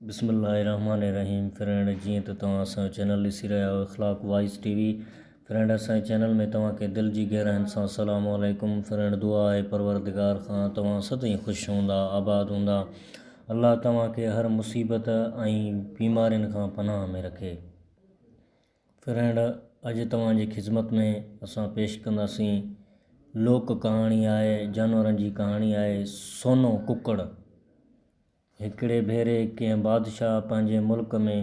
بسم الله الرحمٰن الرحيم فرينڊ جيئن ته توهان اسان جو چينل ڏسي رهيا آهيو Akhlaq wise T V friend اسان جي چينل ۾ توهان کي دل جي گهراين سان سلام عليڪم فرينڊ دعا آهي پروردگار کان توهان سدائين خوش هوندا آباد هوندا الله توهان کي هر مصيبت ۽ بيمارين کان پناهه ۾ رکي فرينڊ اڄ توهان جي خدمت ۾ اسان پيش ڪنداسين لوڪ ڪهاڻي آهي جانورن جي ڪهاڻي آهي سونو ڪڪڙ هڪڙي ڀيري ڪنهن بادشاهه پنهنجي ملڪ ۾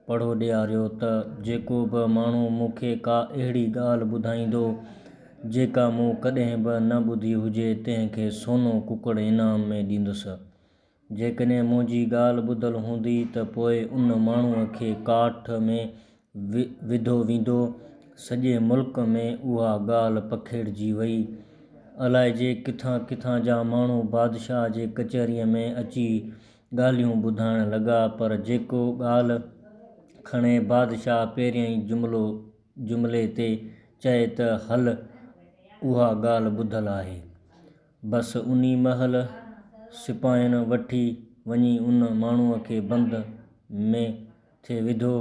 پڙهو ڏياريو ته جيڪو به ماڻهو مون کي ڪا اهڙي ڳالهه ٻڌائيندو، جيڪا مون ڪڏهن به نه ٻڌي هجي، تنهن کي سونو ڪڪڙ انعام ۾ ڏيندس. جيڪڏهن منهنجي ڳالهه ٻڌل هوندي ته پوء ان ماڻهوء کي ڪاٺ ۾ وڌو ويندو، سڄي ملڪ ۾ اها ڳالهه پکيڙجي وئي. الائجي ڪٿان ڪٿان جا ماڻهو بادشاهه جي ڪچهريء ۾ اچي ڳالهيون ٻڌائڻ لڳا، پر جيڪو ڳالهه کڻي بادشاهه پهريائين جملو جملي تي چئي ته هل اها ڳالهه ٻڌل آهي. بس انهي مهل سپاهين وٺي وڃي ان ماڻهوء کي بند ۾ کي وڌو.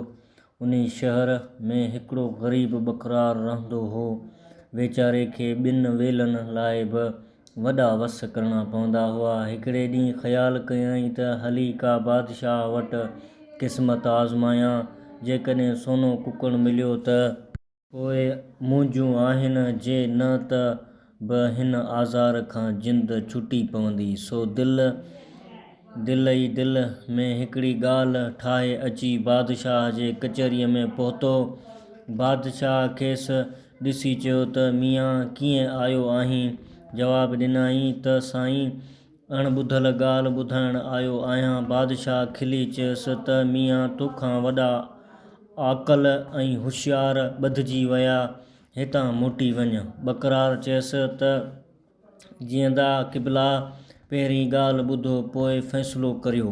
انهي شهر ۾ هڪڙو غريب ٻڪرار رهندو هو. ويچاري کي ٻن ويلن لاء به وڏا وس ڪرڻا پوندا هئا. هڪڙي ڏينهن خيال ڪيائين ته هلي ڪا بادشاهه وٽ قسمت آزمايان. جيڪڏهن سونو ڪڪڙ مليو ته. پوء منهنجون آهن جي نه ته به هن آزار کان جند ڇٽي پوندي. سو دل، دل ئي دل، ۾ هڪڙي ڳالهه ٺاهي اچي بادشاهه جي ڪچهريء ۾ پهتو. بادشاهه کيس ڏسي چيو ته ميان ڪيئن آيو آهين؟ جواب ڏنائين ته سائين اڻ ٻڌل ڳالهه ٻڌائڻ آيو آهيان. بادشاهه کلي چيس ته ميان توکان وڏا عاقل ۽ هوشيار ٻڌجي ويا، هتان موٽي وڃ. ٻڪرار چيس ته جيئندا قبلا، پهرين ڳالهه ٻڌو پوء فيصلو ڪريو.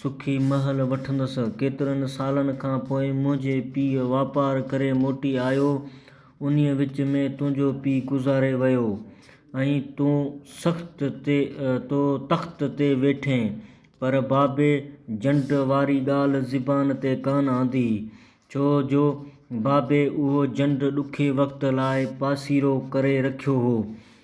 سکي مهل وٺندس. ڪيترن سالن کان پوء منهنجي پيء واپار ڪري موٽي آيو. انهيء وچ ۾ تنهنجو پيء گذاري ويو ۽ تون سخت تي تو تخت تي ويٺين. پر بابي جنڊ واري ڳالهه زبان تي ڪانه آندي، ڇو جو بابي اهو جنڊ ڏکي وقت لاء پاسيرو ڪري رکيو هو.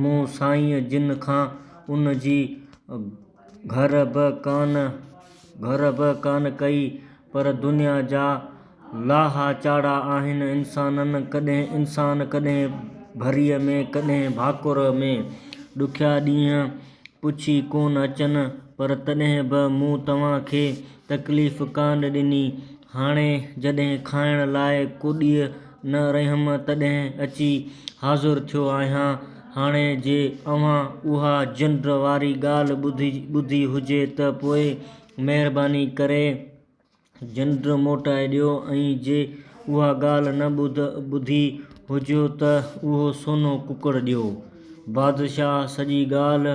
مون سائينء جن کان ان جي گهر به ڪانه گهر به ڪانه ڪئي، پر دنيا جا لاها چاڙها آهن انسانن، ڪڏهن انسان، ڪڏهن ڀريء ۾، ڪڏهن ڀاڪر ۾. ڏکيا ڏينهن پڇي ڪونه اچن، پر تڏهن به مون توهان کي تڪليف ڪانه ڏني. هاڻي جڏهن کائڻ لاء ڪوڏيء نه رهيم تڏهن اچي حاضر ٿيو آهيان. هاڻي جي اوهان اها جنڊ واري ڳالهه ٻڌي هجي ته پوء مهرباني ڪري جنڊ موٽائي ڏيو ۽ جي اها ڳالهه نه ٻڌي هجيو ته اهو سونو ڪڪڙ ڏيو. بادشاهه سڄي ڳالهه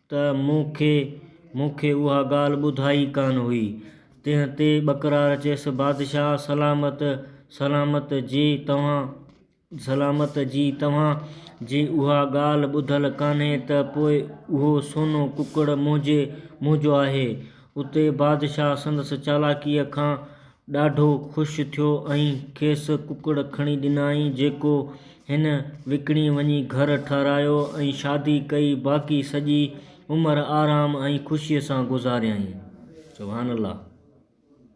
ته مون کي مون کي اها ڳالهه ٻڌائي ڪانه هئي. تنهن تي ٻڪرار چيس، بادشاهه سلامت سلامت جي توهان سلامت جي توهان جي اها ڳالهه ٻڌل ڪانهي ته پوء اهو سونو ڪڪڙ منهنجي منهنجو آهي. اتي بادشاهه سندس چالاڪيء کان ڏاڍو خوش ٿيو ۽ کيس ڪڪڙ کڻي ڏنائين جيڪو هن وڪڻي وڃي گهر ٺهرايو ۽ شادي ڪئي باقي سڄي عمر آرام ۽ خوشي سان گذاريائين